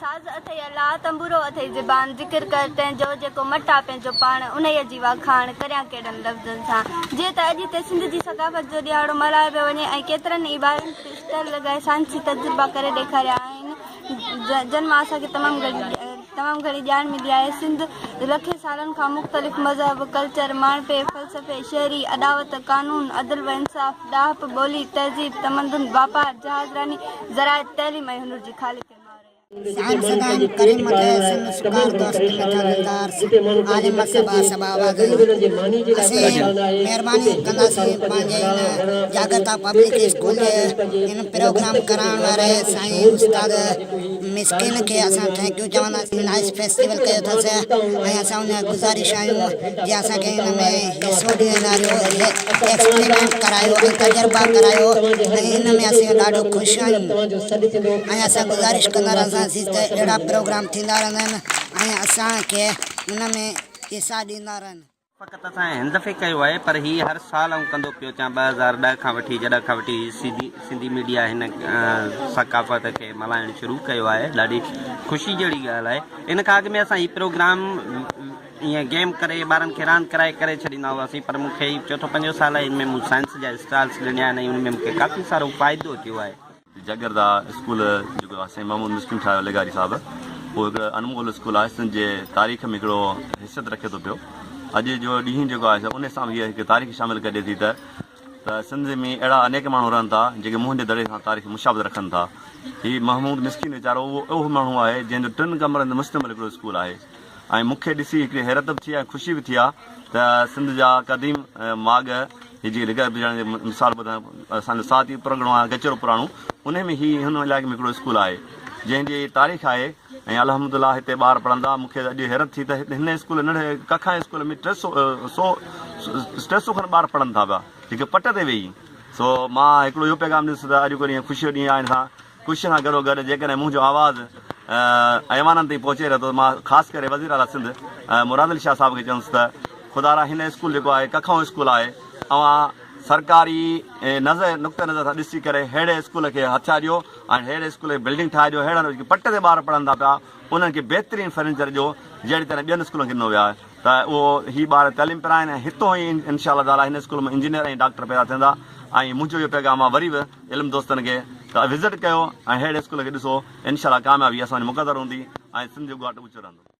ساز اٿئي الا، تنبورو اٿئي زبان، ذڪر ڪر تنهن جو، جيڪو مٽ آ پنهنجو پاڻ، انهيء جي واکاڻ، ڪريان ڪهڙن لفظن سان، جيئن ته اڄ هتي سنڌ جي ثقافت جو ڏيهاڙو ملهايو پيو وڃي ۽ ڪيترن ئي ٻارن هتي اسٽال لڳائي سائنسي تجربا ڪري ڏيکاريا آهن، جن مان اسان کي تمام گهڻي تمام گهڻي ڄاڻ ملي آهي. سنڌ لکين سالن کان مختلف مذهب، ڪلچر، ماڻهپي، فلسفي، شهري اڏاوت، قانون، عدل و انصاف، ڏاهپ، ٻولي، تهذيب، تمدن، واپار، جهازراني، زراعت، تعليم ۽ هنر جي خالق ۽ ماء رهي آهي. سائنسدان ڪريم مٽيء سن شڪار دوست مٺا لتار سين عالم اڪثر با سبب آواز آهي. اسين مهرباني ڪنداسين پنهنجي ان جاڳرتا پبلڪ اسڪول جي ان پروگرام ڪرائڻ واري سائين استاد مسڪين کي اسان ٿينڪيو چونداسين جن نائس فيسٽيول ڪيو اٿس ۽ اسان ان جا گذارش آهيون جي اسان کي ان ۾ حصو ڏيڻ واريو ايڪسپريمينٽ ڪرايو ۽ تجربا ڪرايو ۽ ان ۾ اسين ڏاڍو خوش آهيون ۽ اسان گذارش ڪندا رهنداسين ته اهڙا پروگرام ٿيندا رهندن ۽ اسان کي ان ۾ حصا ڏيندا رهن. فقط اسان هن دفعي ڪيو آهي پر هي هر سال آئون ڪندو پيو اچان ٻه هزار ڏهه کان وٺي جڏهن کان وٺي سنڌي سنڌي ميڊيا هن ثقافت کي ملهائڻ شروع ڪيو آهي ڏاڍي خوشي جهڙي ڳالهه آهي ان کان اڳ ۾ اسان هي پروگرام ائين گيم ڪري ٻارن کي راند ڪرائي ڪري ڇڏيندا هئاسين پر مون کي چوٿون پنجون سال آهي ان ۾ مون سائنس جا اسٽالس ڏنا آهن ۽ ان ۾ مون کي ڪافي سارو فائدو ٿيو آهي جاگيردا اسڪول جيڪو سائين محمود مسڪين ٺاهيو لغاري صاحب اهو هڪ انمول اسڪول آهي سنڌ جي تاريخ ۾ هڪڙو حيثيت رکي ٿو پيو اڄ جو ڏينهن جيڪو آهي ان سان هي هڪ تاريخ شامل ڪري ٿي ته ته سنڌ ۾ اهڙا انيڪ ماڻهو رهن ٿا جيڪي منهن جي دڙي سان تاريخ مشابت رکن ٿا هي محمود مسڪين ويچارو اهو اهو ماڻهو آهي جنهن جو ٽن ڪمرن تي مشتمل هڪڙو اسڪول آهي ۽ مون کي ڏسي هڪڙي حيرت به ٿي ۽ خوشي به ٿي آ ته سنڌ جا قديم ماڳ هي جيڪي لڪاء پڄاڻي جي مثال ٻڌايو اسان جو ساهتي پرڳڻو آهي گچڙو پراڻو ان ۾ هي هن علائقي ۾ هڪڙو اسڪول آهي جنهن جي تاريخ آهي ۽ الحمدلله هتي ٻار پڙهندا مون کي اڄ حيرت ٿي ته هن اسڪول ننڍڙي ڪکان اسڪول ۾ ٽي سو سو ٽي سو کن ٻار پڙهن ٿا پيا هڪ پٽ تي ويهي سو مان هڪڙو اهو پيغام ڏس ته اڄ ڪو ڏينهن خوشي جو ڏينهن آهي ان سان ڪوششن سان گڏوگڏ جيڪڏهن منهنجو آواز ايوانن تائين پهچي رهيو ته مان خاص ڪري وزيراعليٰ سنڌ مراد علي شاهه صاحب کي چوندس ته خدارا هن اسڪول جيڪو آهي ڪکئون اسڪول آهي اوهان سرڪاري نظر نقطه نظر سان ڏسي ڪري ههڙي اسڪول کي هٿيا ڏيو ۽ ههڙي اسڪول کي بلڊنگ ٺاهي ڏيو ههڙن جيڪي پٽ تي ٻار پڙهن ٿا پيا انهن کي بهترين فرنيچر ڏيو جهڙي طرح ٻين اسڪولن کي ڏنو ويو آهي ته اهو هي ٻار تعليم پيرا آهن ۽ هتون هي انشاء الله تعاليٰ هن اسڪول مان انجنيئر ۽ ڊاڪٽر پيدا ٿيندا ۽ منهنجو اهو پيغام آهي وري به علم دوستن کي ته وزٽ ڪيو ۽ اهڙي اسڪول کي ڏسو انشاء الله ڪاميابي اسان جي مقدر هوندي ۽ سنڌ جو ڳاٽ اوچو رهندو.